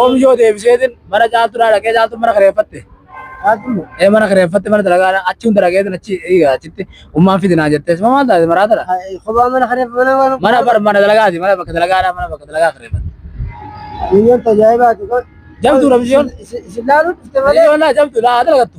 Oomishoo deebiseetiin mana caaltuudhaa dhaqee caaltuun mana kireeffatte. Ee mana kireeffatte mana dalagaa achi hunda dhaqeetiin achi eega achitti ummaan fidi naa jettee sima maal taate maraatadha. Mana bar mana dalagaati mana bakka dalagaadhaa mana bakka dalagaa kireeffatte. Jabduudha mishiyoon. Mishiyoon laa jabduudha haa dalagattu.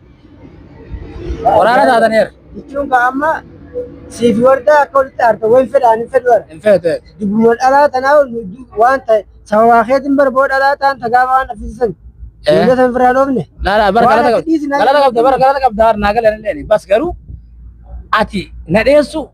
Waraana taataneera. Jechuun kaa amma siif wardaa akka walitti aarta waan fedhaan hin fedhu ara. Hin feete. Dubbuma dhalaa tanaa waan ta'e sababaa keetiin barboo dhalaa ta'an tagaafa waan dhaffisisan. Eh. Miila san firaa dhoofne. Laala bara Waan galata ati qabda. dhiisi na- Galata qabda bara galata qabda harnaa galanillee bas garuu ati na dheessu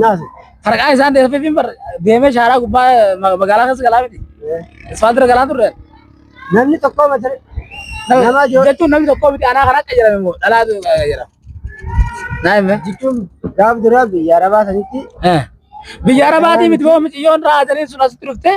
Naas. Farqaa isaan deemee fi bar deemee shaaraa gubbaa ma- magaalaa keessa galaa miti. Isfaaltira galaa turre. Namni tokko mata Nama Nama jo- jechuun namni tokko miti anaa kanaa qayyarame immoo dhalaatu qayyarame. Naa hime. jechuun gaaf duraa biyya arabaa sanitti Biyya arabaatii miti boo miciyyoon raatanii sun asitti dhuftee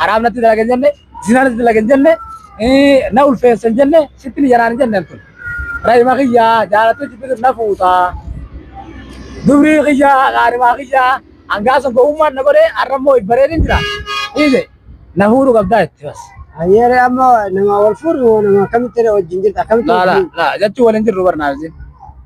haraam natti dalagan jenne zinaa natti dalagan jenne na ulfeessan jenne sitti ni janaan jenne tun rahima kiyya jaalattee jibbitu na fuuta dubrii kiyya qaarimaa kiyya hangaa sun gowwummaan na godhee har'a immoo bareedin jira dhiise na fuudhu qabdaa itti bas. Yeroo ammoo nama wal fuudhu nama akkamitti wajjin jirta akkamitti Laa laa wajjin laa jechuun waliin jirru barnaa isin.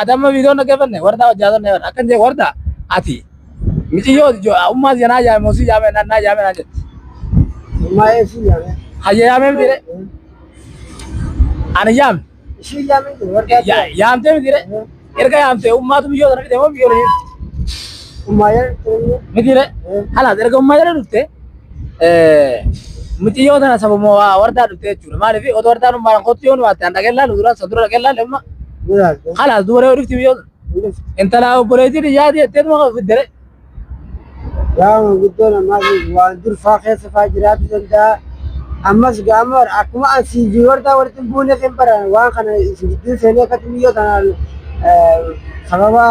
Adamma viidiyoon dhaggeeffanne wardaa hojjaatanne warda akkan jee warda ati miciyyoo ummaa siya naa yaame moo si yaame naa naa yaame naan jetti. Ummaa ee si yaame. Hayya yaamee miti re. Ani yaame. Si yaame jee wardaa. Ya yaamtee miti re. Erga yaamtee ummaatu biyyoo sana fide moo biyyoo lafee. Ummaa yaa. Miti re. Halaas erga ummaa jala dhufte. Mucayyoo tana sabuma waa wardaa dhuftee jechuudha. Maaliif otoo wardaan ummaan kottu yoo nu waatte an dhaqee laalu duraan san dura dhaqee laalu amma kalaas dubaree yoo dhufti biyyoo intala obboleettii dhiyyaati jettee tuma kan fiddere. Yaa manguddoo namaa fi waan durfaa keessa faa jiraatu danda'a. Ammas gaama akkuma an sii fi wardaa walitti hin buune kan baran waan kana isin gidduu seenee akka xiyyoota kanaan sababa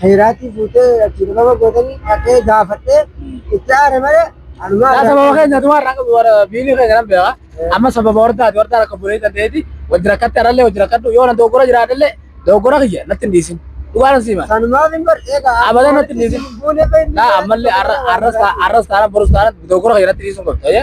Heeraatii fuutee achi dhibama gootanii dhaqee gaafadhee itti aare malee anumaa Yaa sababa irraa keenya tumaa irraa qabu warra biilii keenya nan beeka. Amma sababa hordaati hordaa rakka bulee kan ta'eeti wajji rakkatti arallee wajji rakkadhu yoo nan dogoggora jiraadhallee dogoggora kiyya natti hin dhiisin. Dhugaa nan siima. sanumaaf hin bar eegaa Abadan natti hin dhiisin. Buunee fayyadu. Naa ammallee arra- arras taa- arras taana borus taana dogoggora kiyya natti dhiisun qabda.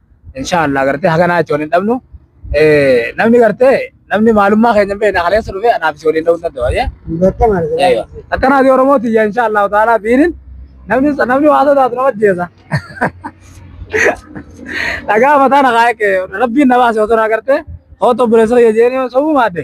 insha Allah gartee haganaa itti waliin dhabnu namni gartee namni maalummaa keenya hin beekne kaleessa dhufee anaaf si waliin dhabuu danda'u ayyee akkanaa fi oromoo tiyya insha Allah ta'ala biinin namni namni waa sodaatu nama jeesa dhagaa mataa na kaa'e rabbiin na baase otoo na gartee hoota obboleessa kiyya jeeni sobuu maadde